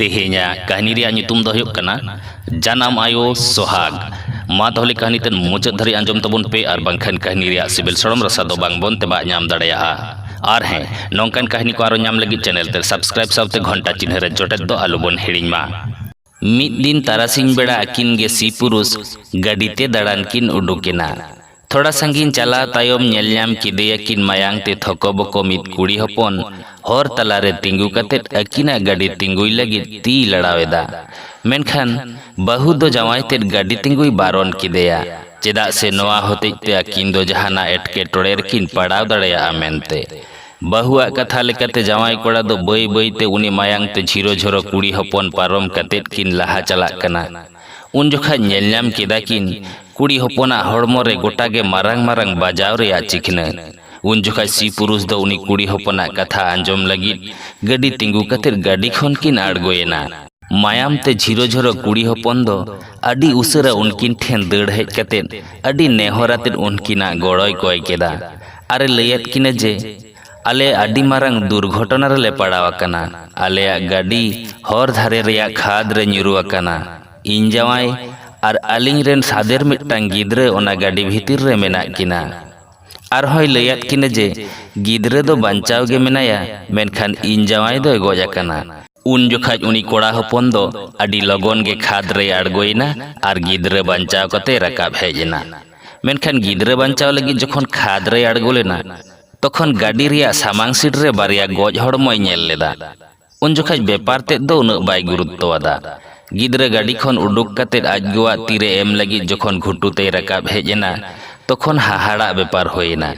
ᱛᱮᱦᱮᱧᱟᱜ ᱠᱟᱹᱦᱱᱤ ᱨᱮᱭᱟᱜ ᱧᱩᱛᱩᱢ ᱫᱚ ᱦᱩᱭᱩᱜ ᱠᱟᱱᱟ ᱡᱟᱱᱟᱢ ᱟᱭᱳ ᱥᱚᱦᱟᱜᱽ ᱢᱟ ᱛᱟᱦᱚᱞᱮ ᱠᱟᱹᱦᱱᱤ ᱛᱮ ᱢᱩᱪᱟᱹᱫ ᱫᱷᱟᱹᱨᱤᱡ ᱟᱸᱡᱚᱢ ᱛᱟᱵᱚᱱ ᱯᱮ ᱟᱨ ᱵᱟᱝᱠᱷᱟᱱ ᱠᱟᱹᱦᱱᱤ ᱨᱮᱭᱟᱜ ᱥᱤᱵᱤᱞ ᱥᱚᱲᱚᱢ ᱨᱟᱥᱟ ᱫᱚ ᱵᱟᱝ ᱵᱚᱱ ᱛᱮᱵᱟᱜ ᱧᱟᱢ ᱫᱟᱲᱮᱭᱟᱜᱼᱟ ᱟᱨ ᱦᱮᱸ ᱱᱚᱝᱠᱟᱱ ᱠᱟᱹᱦᱱᱤ ᱠᱚ ᱟᱨᱚ ᱧᱟᱢ ᱞᱟᱹᱜᱤᱫ ᱪᱮᱱᱮᱞ ᱛᱮ ᱥᱟᱵᱥᱠᱨᱟᱭᱤᱵ ᱥᱟᱶᱛᱮ ᱜᱷᱚᱱᱴᱟ ᱪᱤᱱᱦᱟᱹ ᱨᱮ ᱡᱚᱴᱮᱫ ᱫᱚ ᱟᱞᱚ ᱵᱚᱱ ᱦᱤᱲᱤᱧ ᱢᱟ ᱢᱤᱫ ᱫᱤᱱ ᱛᱟᱨᱟᱥᱤᱧ ᱵᱮᱲᱟ ᱟᱹᱠᱤᱱ ᱜᱮ ᱥᱤ ᱯᱩᱨᱩᱥ ᱜᱟᱹᱰᱤ ᱛᱮ ᱫᱟᱬᱟᱱ ᱠᱤᱱ ᱩᱰᱩᱠᱮᱱᱟ ᱛᱷᱚᱲᱟ ᱥᱟᱺᱜᱤᱧ ᱪᱟᱞᱟᱣ ᱛᱟᱭᱚᱢ ᱧᱮᱞ ᱧᱟᱢ ᱠᱮᱫᱮᱭᱟ ᱠᱤᱱ ᱢᱟᱭᱟᱝ ᱛᱮ ᱛᱷᱚᱠᱚᱵᱚᱠᱚ ᱢᱤᱫ ᱠᱩᱲᱤ ᱦᱚᱯᱚᱱ ᱦᱚᱨ ᱛᱟᱞᱟ ᱨᱮ ᱛᱤᱸᱜᱩ ᱠᱟᱛᱮ ᱟᱹᱠᱤᱱᱟᱜ ᱜᱟᱹᱰᱤ ᱛᱤᱸᱜᱩᱭ ᱞᱟᱹᱜᱤᱫ ᱛᱤᱭ ᱞᱟᱲᱟᱣ ᱮᱫᱟ᱾ ᱢᱮᱱᱠᱷᱟᱱ ᱵᱟᱹᱦᱩ ᱫᱚ ᱡᱟᱶᱟᱭ ᱛᱮᱫ ᱜᱟᱹᱰᱤ ᱛᱤᱸᱜᱩᱭ ᱵᱟᱨᱚᱱ ᱠᱮᱫᱮᱭᱟ ᱪᱮᱫᱟᱜ ᱥᱮ ᱱᱚᱶᱟ ᱦᱚᱛᱮᱡ ᱛᱮ ᱟᱹᱠᱤᱱ ᱫᱚ ᱡᱟᱦᱟᱱᱟᱜ ᱮᱴᱠᱮᱴᱚᱬᱮ ᱨᱮᱠᱤᱱ ᱯᱟᱲᱟᱣ ᱫᱟᱲᱮᱭᱟᱜᱼᱟ ᱢᱮᱱᱛᱮ᱾ ᱵᱟᱹᱦᱩ ᱟᱜ ᱠᱟᱛᱷᱟ ᱞᱮᱠᱟᱛᱮ ᱡᱟᱶᱟᱭ ᱠᱚᱲᱟ ᱫᱚ ᱵᱟᱹᱭ ᱵᱟᱹᱭ ᱛᱮ ᱩᱱᱤ ᱢᱟᱭᱟᱝ ᱛᱮ ᱡᱷᱤᱨᱚ ᱡᱷᱚᱨᱚ ᱠᱩᱲᱤ ᱦᱚᱯᱚᱱ ᱯᱟᱨᱚᱢ ᱠᱟᱛᱮ ᱠᱤᱱ ᱞᱟᱦᱟ ᱪᱟᱞᱟᱜ ᱠᱟᱱᱟ᱾ ᱩᱱ ᱡᱚᱠᱷᱟᱡ ᱧᱮᱞ ᱧᱟᱢ ᱠᱮᱫᱟ ᱠᱤᱱ ᱠᱩᱲᱤ ᱦᱚᱯᱚᱱᱟᱜ ᱦᱚᱲᱢᱚ ᱨᱮ ᱜᱚᱴᱟ ᱜᱮ ᱢᱟᱨᱟᱝ ᱢᱟᱨᱟᱝ ᱵᱟᱡᱟᱣ ᱨᱮᱭᱟᱜ ᱪᱤᱠᱷᱱᱟᱹ ᱩᱱ ᱡᱚᱠᱷᱟᱡ ᱥᱤ ᱯᱩᱨᱩᱥ ᱫᱚ ᱩᱱᱤ ᱠᱩᱲᱤ ᱦᱚᱯᱚᱱᱟᱜ ᱠᱟᱛᱷᱟ ᱟᱸᱡᱚᱢ ᱞᱟᱹᱜᱤᱫ ᱜᱟᱹᱰᱤ ᱛᱤᱸᱜᱩ ᱠᱟᱛᱮ ᱜᱟᱹᱰᱤ ᱠᱷᱚᱱ ᱠᱤᱱ ᱟᱬᱜᱚᱭᱮᱱᱟ ᱢᱟᱭᱟᱢ ᱛᱮ ᱡᱷᱤᱨᱚ ᱡᱷᱚᱨᱚ ᱠᱩᱲᱤ ᱦᱚᱯᱚᱱ ᱫᱚ ᱟᱹᱰᱤ ᱩᱥᱟᱹᱨᱟ ᱩᱱᱠᱤᱱ ᱴᱷᱮᱱ ᱫᱟᱹᱲ ᱦᱮᱡ ᱠᱟᱛᱮ ᱟᱹᱰᱤ ᱱᱮᱦᱚᱨ ᱟᱛᱮ ᱩᱱᱠᱤᱱᱟᱜ ᱜᱚᱲᱚᱭ ᱠᱚᱭ ᱠᱮᱫᱟ ᱟᱨᱮ ᱞᱟᱹᱭᱟᱫ ᱠᱤᱱᱟ ᱡᱮ ᱟᱞᱮ ᱟᱹᱰᱤ ᱢᱟᱨᱟᱝ ᱫᱩᱨᱜᱷᱚᱴᱚᱱᱟ ᱨᱮᱞᱮ ᱯᱟᱲᱟᱣ ᱟᱠᱟᱱᱟ᱾ ᱟᱞᱮᱭᱟᱜ ᱜᱟᱹᱰᱤ ᱦᱚᱨ ᱫᱷᱟᱨᱮ ᱨᱮᱭᱟᱜ ᱠᱷᱟᱫᱽ ᱨᱮ ᱧᱩᱨᱩ ᱟᱠᱟᱱᱟ᱾ ᱤᱧ ᱡᱟᱶᱟᱭ ᱟᱨ ᱟᱹᱞᱤᱧ ᱨᱮᱱ ᱥᱟᱫᱮᱨ ᱢᱤᱫᱴᱟᱝ ᱜᱤᱫᱽᱨᱟᱹ ᱚᱱᱟ ᱜᱟᱹᱰᱤ ᱵᱷᱤᱛᱤᱨ ᱨᱮ ᱢᱮᱱᱟᱜ ᱠᱤᱱᱟ᱾ ᱟᱨᱦᱚᱸᱭ ᱞᱟᱹᱭ ᱟᱫ ᱠᱤᱱᱟ ᱡᱮ ᱜᱤᱫᱽᱨᱟᱹ ᱫᱚ ᱵᱟᱧᱪᱟᱣ ᱜᱮ ᱢᱮᱱᱟᱭᱟ ᱢᱮᱱᱠᱷᱟᱱ ᱤᱧ ᱡᱟᱶᱟᱭ ᱫᱚᱭ ᱜᱚᱡ ᱟᱠᱟᱱᱟ᱾ ᱩᱱ ᱡᱚᱠᱷᱟᱡ ᱩᱱᱤ ᱠᱚᱲᱟ ᱦᱚᱯᱚᱱ ᱫᱚ ᱟᱹᱰᱤ ᱞᱚᱜᱚᱱ ᱜᱮ ᱠᱷᱟᱫᱽ ᱨᱮᱭ ᱟᱬᱜᱚ ᱮᱱᱟ ᱟᱨ ᱜᱤᱫᱽᱨᱟᱹ ᱵᱟᱧᱪᱟᱣ ᱠᱟᱛᱮᱭ ᱨᱟᱠᱟᱵ ᱦᱮᱡ ᱮᱱᱟ᱾ ᱢᱮᱱᱠᱷᱟᱱ ᱜᱤᱫᱽᱨᱟᱹ ᱵᱟᱧᱪᱟᱣ ᱞᱟᱹᱜᱤᱫ ᱡᱚᱠᱷᱚᱱ ᱠᱷᱟᱫᱽ ᱨᱮᱭ ᱟᱬᱜᱚ ᱞᱮᱱᱟ, ᱛᱚᱠᱷᱚᱱ ᱜᱟᱹᱰᱤ ᱨᱮᱭᱟᱜ ᱥᱟᱢᱟᱝ ᱥᱤᱴ ᱨᱮ ᱵᱟᱨᱭᱟ ᱜᱚᱡ ᱦᱚᱲᱢᱚᱭ ᱧᱮᱞ ᱞᱮᱫᱟ᱾ ᱩᱱ ᱡᱚᱠᱷᱟᱡ ᱵᱮᱯᱟᱨ ᱛᱮᱫ ᱫᱚ ᱩᱱᱟᱹᱜ ᱵᱟᱭ ᱜᱩᱨᱩᱛᱛᱚ ᱟᱫᱟ᱾ ᱜᱤᱫᱽᱨᱟᱹ ᱜᱟᱹᱰᱤ ᱠᱷᱚᱱ ᱩᱰᱩᱠ ᱠᱟᱛᱮ ᱟᱡ ᱜᱚᱣᱟᱜ ᱛᱤ ᱨᱮ ᱮᱢ ᱞᱟᱹᱜᱤᱫ ᱡᱚᱠᱷᱚᱱ ᱜᱷᱩᱴᱩ ᱛᱮᱭ ᱨᱟᱠᱟᱵ ᱦᱮᱡ ᱮᱱᱟ, ᱛᱚᱠᱷᱚᱱ ᱦᱟᱦᱟᱲᱟᱜ ᱵᱮᱯᱟᱨ ᱦᱩᱭ ᱮᱱᱟ᱾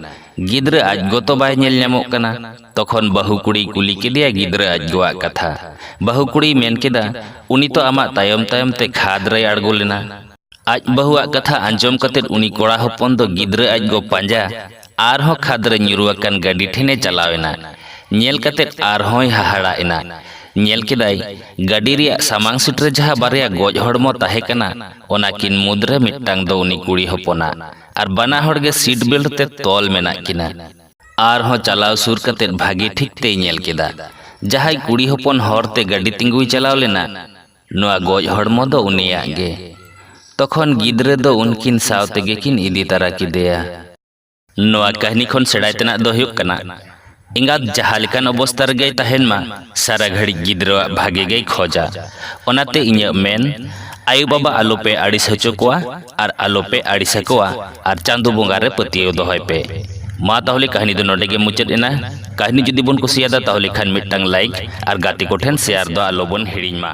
ᱜᱤᱫᱽᱨᱟᱹ ᱟᱡ ᱜᱚ ᱛᱚ ᱵᱟᱭ ᱧᱮᱞ ᱧᱟᱢᱚᱜ ᱠᱟᱱᱟ᱾ ᱛᱚᱠᱷᱚᱱ ᱵᱟᱹᱦᱩ ᱠᱩᱲᱤᱭ ᱠᱩᱞᱤ ᱠᱮᱫᱮᱭᱟ ᱜᱤᱫᱽᱨᱟᱹ ᱟᱡ ᱜᱚᱣᱟᱜ ᱠᱟᱛᱷᱟ᱾ ᱵᱟᱹᱦᱩ ᱠᱩᱲᱤᱭ ᱢᱮᱱ ᱠᱮᱫᱟ, ᱩᱱᱤ ᱛᱚ ᱟᱢᱟᱜ ᱛᱟᱭᱚᱢ ᱛᱟᱭᱚᱢ ᱛᱮ ᱠᱷᱟᱫᱽ ᱨᱮᱭ ᱟᱬᱜᱚ ᱞᱮᱱᱟ᱾ ᱟᱡ ᱵᱟᱹᱦᱩᱣᱟᱜ ᱠᱟᱛᱷᱟ ᱟᱸᱡᱚᱢ ᱠᱟᱛᱮ ᱩᱱᱤ ᱠᱚᱲᱟ ᱦᱚᱯᱚᱱ ᱫᱚ ᱜᱤᱫᱽᱨᱟᱹ ᱟᱡ ᱜᱚ ᱯᱟᱸᱡᱟ ᱟᱨᱦᱚᱸ ᱠᱷᱟᱫᱽ ᱨᱮ ᱧᱩᱨᱩ ᱟᱠᱟᱱ ᱜᱟᱹᱰᱤ ᱴᱷᱮᱱᱮ ᱪᱟᱞᱟᱣ ᱮᱱᱟ ᱧᱮᱞ ᱠᱟᱛᱮ ᱟᱨᱦᱚᱸᱭ ᱦᱟᱦᱟᱲᱟ ᱮᱱᱟ ᱧᱮᱞ ᱠᱮᱫᱟᱭ ᱜᱟᱹᱰᱤ ᱨᱮᱭᱟᱜ ᱥᱟᱢᱟᱝ ᱥᱤᱴ ᱨᱮ ᱡᱟᱦᱟᱸ ᱵᱟᱨᱭᱟ ᱜᱚᱡ ᱦᱚᱲᱢᱚ ᱛᱟᱦᱮᱸ ᱠᱟᱱᱟ ᱚᱱᱟ ᱠᱤᱱ ᱢᱩᱫᱽ ᱨᱮ ᱢᱤᱫᱴᱟᱝ ᱫᱚ ᱩᱱᱤ ᱠᱩᱲᱤ ᱦᱚᱯᱚᱱᱟᱜ ᱟᱨ ᱵᱟᱱᱟ ᱦᱚᱲ ᱜᱮ ᱥᱤᱴ ᱵᱮᱞᱴ ᱛᱮ ᱛᱚᱞ ᱢᱮᱱᱟᱜ ᱠᱤᱱᱟ ᱟᱨᱦᱚᱸ ᱪᱟᱞᱟᱣ ᱥᱩᱨ ᱠᱟᱛᱮ ᱵᱷᱟᱹᱜᱤ ᱴᱷᱤᱠ ᱛᱮᱭ ᱧᱮᱞ ᱠᱮᱫᱟ ᱡᱟᱦᱟᱸᱭ ᱠᱩᱲᱤ ᱦᱚᱯᱚᱱ ᱦᱚᱨ ᱛᱮ ᱜᱟᱹᱰᱤ ᱛᱤᱸᱜᱩᱭ ᱪᱟᱞᱟᱣ ᱞᱮᱱᱟ ᱱᱚᱣᱟ ᱜᱚᱡ ᱦᱚᱲᱢᱚ ᱫᱚ ᱩᱱᱤᱭᱟᱜ ᱜᱮ᱾ ᱛᱚᱠᱷᱚᱱ ᱜᱤᱫᱽᱨᱟᱹ ᱫᱚ ᱩᱱᱠᱤᱱ ᱥᱟᱶ ᱛᱮᱜᱮ ᱠᱤᱱ ᱤᱫᱤ ᱛᱟᱨᱟ ᱠᱮᱫᱮᱭᱟ᱾ ᱱᱚᱣᱟ ᱠᱟᱹᱦᱱᱤ ᱠᱷᱚᱱ ᱥᱮᱬᱟᱭ ᱛᱮᱱᱟᱜ ᱫᱚ ᱦᱩᱭᱩᱜ ᱠᱟᱱᱟ, ᱮᱸᱜᱟᱛ ᱡᱟᱦᱟᱸ ᱞᱮᱠᱟᱱ ᱚᱵᱚᱥᱛᱟ ᱨᱮᱜᱮᱭ ᱛᱟᱦᱮᱸᱱ ᱢᱟ, ᱥᱟᱨᱟ ᱜᱷᱟᱹᱲᱤᱡ ᱜᱤᱫᱽᱨᱟᱹᱣᱟᱜ ᱵᱷᱟᱜᱮ ᱜᱮᱭ ᱠᱷᱚᱡᱟ᱾ ᱚᱱᱟᱛᱮ ᱤᱧᱟᱹᱜ ᱢᱮᱱ, ᱟᱭᱳ ᱵᱟᱵᱟ ᱟᱞᱚ ᱯᱮ ᱟᱹᱲᱤᱥ ᱦᱚᱪᱚ ᱠᱚᱣᱟ᱾ ᱟᱨ ᱟᱞᱚᱯᱮ ᱟᱹᱲᱤᱥ ᱟᱠᱚᱣᱟ ᱟᱨ ᱪᱟᱸᱫᱚ ᱵᱚᱸᱜᱟ ᱨᱮ ᱯᱟᱹᱛᱭᱟᱹᱣ ᱫᱚᱦᱚᱭ ᱯᱮ ᱢᱟ ᱛᱟᱦᱚᱞᱮ ᱠᱟᱹᱦᱱᱤ ᱫᱚ ᱱᱚᱰᱮ ᱜᱮ ᱢᱩᱪᱟᱹᱫ ᱮᱱᱟ ᱠᱟᱹᱦᱱᱤ ᱡᱩᱫᱤ ᱵᱚᱱ ᱠᱩᱥᱤᱭᱟᱫᱟ ᱛᱟᱦᱚᱞᱮ ᱠᱷᱟᱱ ᱢᱤᱫᱴᱟᱝ ᱞᱟᱭᱤᱠ ᱟᱨ ᱜᱟᱛᱮ ᱠᱚᱴᱷᱮᱱ ᱥᱮᱭᱟᱨ ᱫᱚ ᱟᱞᱚᱵᱚᱱ ᱦᱤᱲᱤᱧ ᱢᱟ